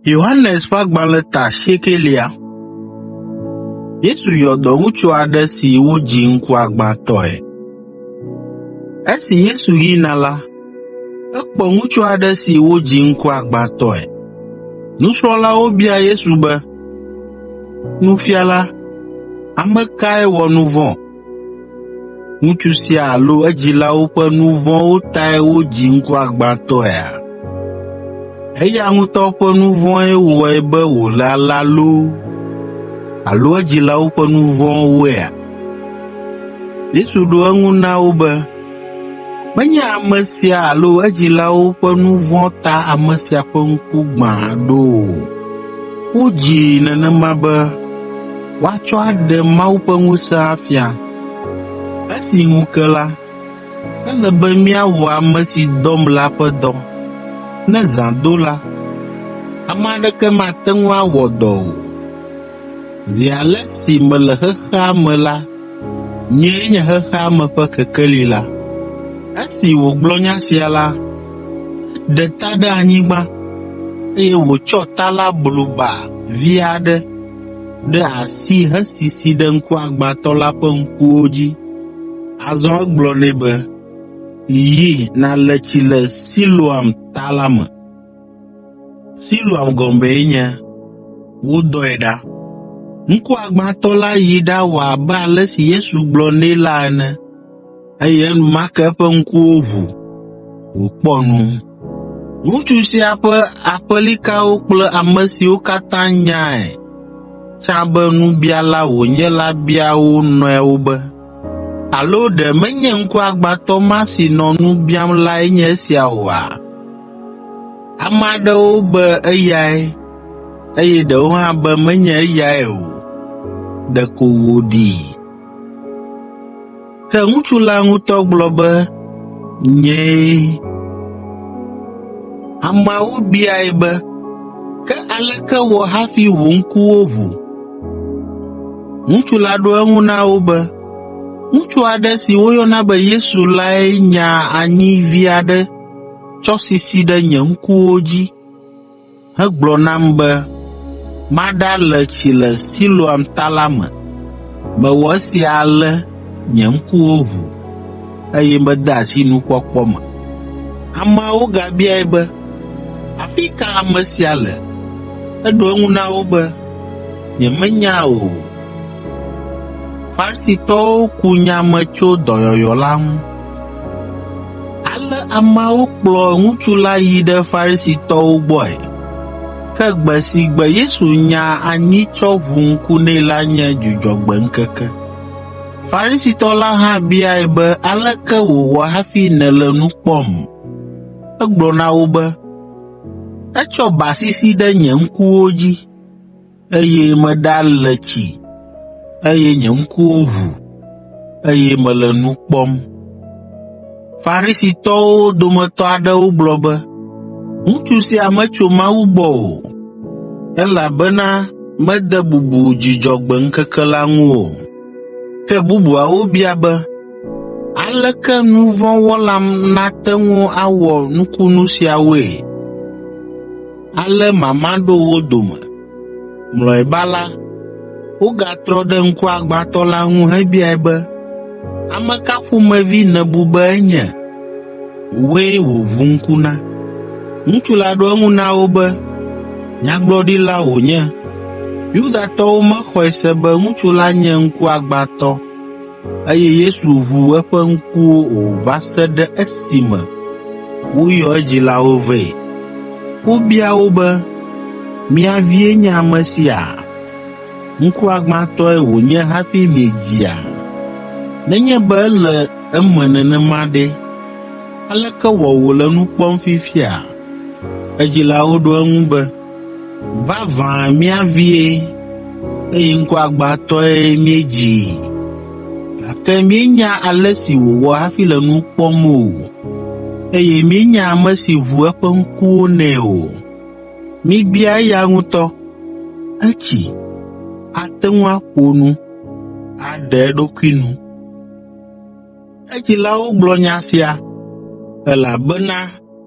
Yohanes ƒe agbalẽ ta asiekɛlia. Yesu yɔ dɔwutsu aɖe si wodzi ŋkuagbãtɔe. Esi Yesu yina la, ekpɔ ŋutsu aɖe si wodzi ŋkuagbãtɔe. Nusrɔ̃lawo bia Yesu be, “Nufiala, ame kae wɔ nu vɔ̃, Ŋutsu sia alo edzilawo ƒe nu vɔ̃wo tae wodzi ŋkuagbãtɔea? Eya ŋutɔ ƒe nu vɔ̃e wɔe be wòle alea loo alo edzilawo ƒe nu vɔ̃woea? Yesu ɖo eŋu na wo be, Menye ame sia alo edzilawo ƒe nu vɔ̃ ta ame sia ƒe ŋku gbã ɖo o. Wodzii nenema be woatsɔ aɖe Mawu ƒe ŋusẽ afia. Esi ŋu ke la, ele be míawɔ ame si dɔm la ƒe dɔ. Ne zã do la, ame aɖeke mate ŋu awɔ dɔ o. Zi ale si mele xexea me la, nyee nye xexea me ƒe kekeli la. Esi wògblɔ nya sia la, eɖe ta ɖe anyigba, eye wòtsɔ ta la blu ba vi aɖe ɖe asi hesisi ɖe ŋkuagbãtɔ la ƒe ŋkuwo dzi. Azɔ egblɔ nɛ be, “Yi, nàle tsi le Siloam Ta la me.” Siloam gɔmee nye, “Wodɔe ɖa.” Ŋkuagbãtɔ la yi ɖawɔ abe ale si Yesu gblɔ nɛ la ene, eye enumake eƒe ŋkuwo ʋu, wòkpɔ nu. Ŋutsu sia ƒe aƒelikawo kple ame siwo katã nyae tsã be nubiala wònye la bia wo nɔewo be, “Alo ɖe menye ŋkuagbãtɔ ma si nɔ nu biam lae nye esia oa?” Ame aɖewo be eyae, eye ɖewo hã be menye eyae o, ɖeko wòɖii. Ke ŋutsu la ŋutɔ gblɔ be, Nyee. Ameawo biae be, Ke aleke wɔ hafi wò ŋkuwo ʋu? Ŋutsu la ɖo eŋu na wo be, Ŋutsu aɖe si woyɔna be Yesu lae nya anyi vi aɖe tsɔ sisi ɖe nye ŋkuwo dzi hegblɔ nam be maɖale tsi le Siloam Ta la me. Mewɔ esia ale nye ŋkuwo ʋu, eye mede asi nukpɔkpɔ me. Ameawo gabiae be, “Afi ka ame sia le?” Eɖo eŋu na wo be, “Nyemenya o.” Farisitɔwo ku nya me tso dɔyɔyɔ la ŋu. Ale ameawo kplɔ ŋutsu la yi ɖe Farisitɔwo gbɔe. Ke gbe si gbe Yesu nya anyi tsɔ ʋu ŋku nɛ la nye Dzudzɔgbe ŋkeke. Farisitɔ la hã biae be, “Aleke wòwɔ hafi nèle nu kpɔm?” Egblɔ na wo be, “Etsɔ ba sisi ɖe nye ŋkuwo dzi.” Eye meɖale tsi, eye nye ŋkuwo ʋu, eye mele nu kpɔm. Farisitɔwo dometɔ aɖewo gblɔ be, “Ŋutsu sia metso Mawu gbɔ o, elabena mede bubu Dzudzɔgbe ŋkeke la ŋu o.” Ke bubuawo bia be, “Aleke nu vɔ̃ wɔla nate ŋu awɔ nukunu siawoe?” Ale mama ɖo wo dome. Mlɔeba la, wogatrɔ ɖe ŋkuagbãtɔ la ŋu hebiae be, “Ame ka ƒomevi nèbu be enye? Wòe wòʋu ŋku na.” Ŋutsu la ɖo eŋu na wo be, “Nyagblɔɖila wònye.” Yudatɔwo mexɔe se be ŋutsu la nye ŋkuagbãtɔ. Eye Yesu ʋu eƒe ŋkuwo o va se ɖe esime woyɔ edzilawo vɛ. Wobia wo be, “Mia vie nye ame sia? Ŋkuagbãtɔe wònye hafi miedzia? Nenye be ele eme nenema ɖe, aleke wɔ wòle nu kpɔm fifia?” Edzilawo ɖo eŋu be, Vavã mía vie, eye ŋkuagbãtɔe míedzii, gake míenya ale si wòwɔ hafi le nu kpɔm o, eye míenya ame si ʋu eƒe ŋkuwo nɛ o. Mibia eya ŋutɔ, etsi, ate ŋu aƒo nu, aɖe eɖokui nu. Edzilawo gblɔ nya sia, elabena,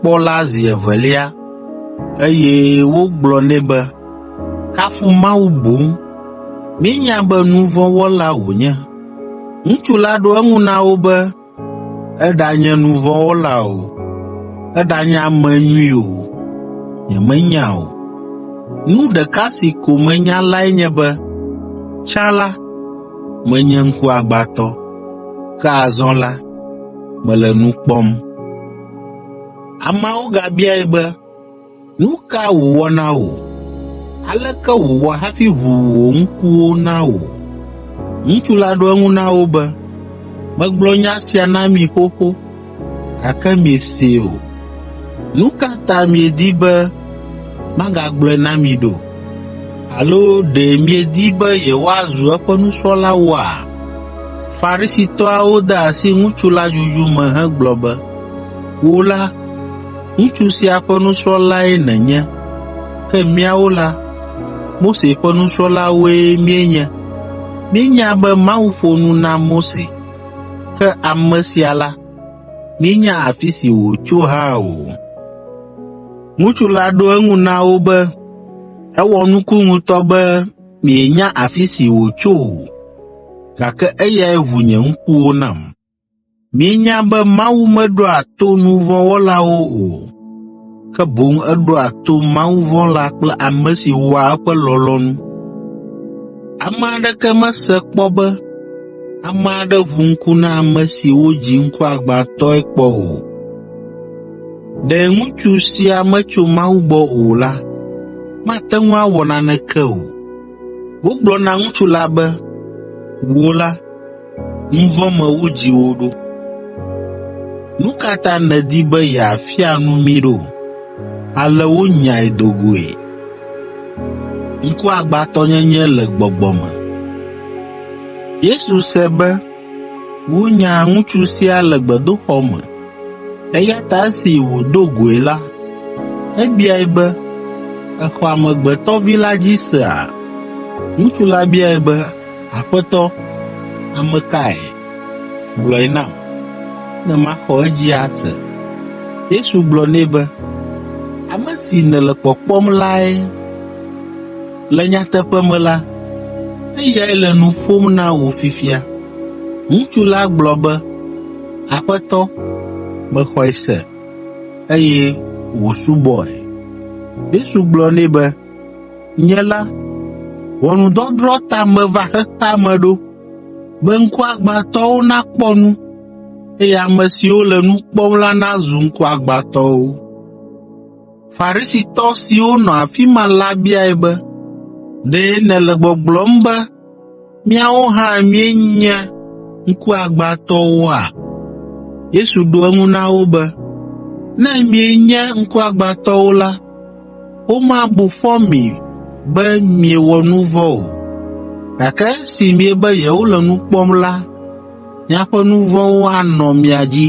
kpɔ la zi evelia, eye wogblɔ nɛ be, Kafu Mawu boŋ. Míenya be nu vɔ̃ wɔla wònye. Ŋutsu la ɖo eŋu na wo be, Eɖanye nu vɔ̃ wɔla o, eɖanye ame nyui o, nyemenya o. Nu ɖeka si ko menya lae nye be, tsã la, menye ŋkuagbãtɔ, ke azɔ la, mele nu kpɔm. Ameawo gabiae be, “Nu ka wòwɔ na wò? Aleke wòwɔ hafi ʋu wò ŋkuwo na wò?” Ŋutsu la ɖo eŋu na wo be, “Megblɔ nya sia na mi xoxo, gake miesee o. Nu ka ta miedi be magagblɔe na mi ɖo? Alo ɖe miedi be yewoazu eƒe nusrɔ̃lawoa?” Farisitɔawo de asi ŋutsu la dzudzu me hegblɔ be, “Wò la, ŋutsu sia ƒe nusrɔ̃lae nènye, ke míawo la, Mose ƒe nusrɔ̃lawoe míenye. Míenya be Mawu ƒo nu na Mose, ke ame sia la, míenya afi si wòtso hã o.” Ŋutsu la ɖo eŋu na wo be, “Ewɔ nuku ŋutɔ be Mienya afi si wòtso o, gake eyae ʋu nye ŋkuwo nam. Mienya be Mawu meɖoa to nu vɔ̃ wɔlawo o, ke boŋ eɖoa to mawuvɔ̃la kple ame si wɔa eƒe lɔlɔ̃nu. Ame aɖeke mese kpɔ be ame aɖe ʋu ŋku na ame si wodzi ŋkuagbãtɔe kpɔ o. Ɖe ŋutsu sia metso Mawu gbɔ o la, mate ŋu awɔ naneke o. Wogblɔ na ŋutsu la be, “Wò la, nu vɔ̃ me wodzi wò ɖo. Nu ka ta nèdi be yeafia nu mí ɖo?” Ale wonyae do goe. Ŋkuagbãtɔnyenye le gbɔgbɔ me Wonya ŋutsu sia le gbedoxɔ me, eya ta esi wòdo goe la, ebiae be, “Èxɔ Amegbetɔ Vi la dzi sea?” Ŋutsu la biae be, “Aƒetɔ, ame kae? Gblɔe nam, ne maxɔ edzi ase.” Yesu gblɔ nɛ be, “Ame si nèle kpɔkpɔm lae.” Le nyateƒe me la, eyae le nu ƒom na wò fifia.” Ŋutsu la gblɔ be, “Aƒetɔ, mexɔe se, eye wòsubɔe.” Yesu gblɔ nɛ be, “Nye la, ʋɔnudɔdrɔ̃ ta meva xexea me ɖo, be ŋkuagbãtɔwo nakpɔ nu, eye ame siwo le nu kpɔm la nazu ŋkuagbãtɔwo.” Farisitɔ siwo nɔ afi ma la biae be, “Ɖe nèle gbɔgblɔm be míawo hã míenye ŋkuagbãtɔwoa?” Yesu ɖo eŋu na wo be, “Ne mienye ŋkuagbãtɔwo la, womabu fɔ mi be miewɔ nu vɔ̃ o. Gake esi miebe yewole nu kpɔm la, miaƒe nu vɔ̃wo anɔ mia dzi.”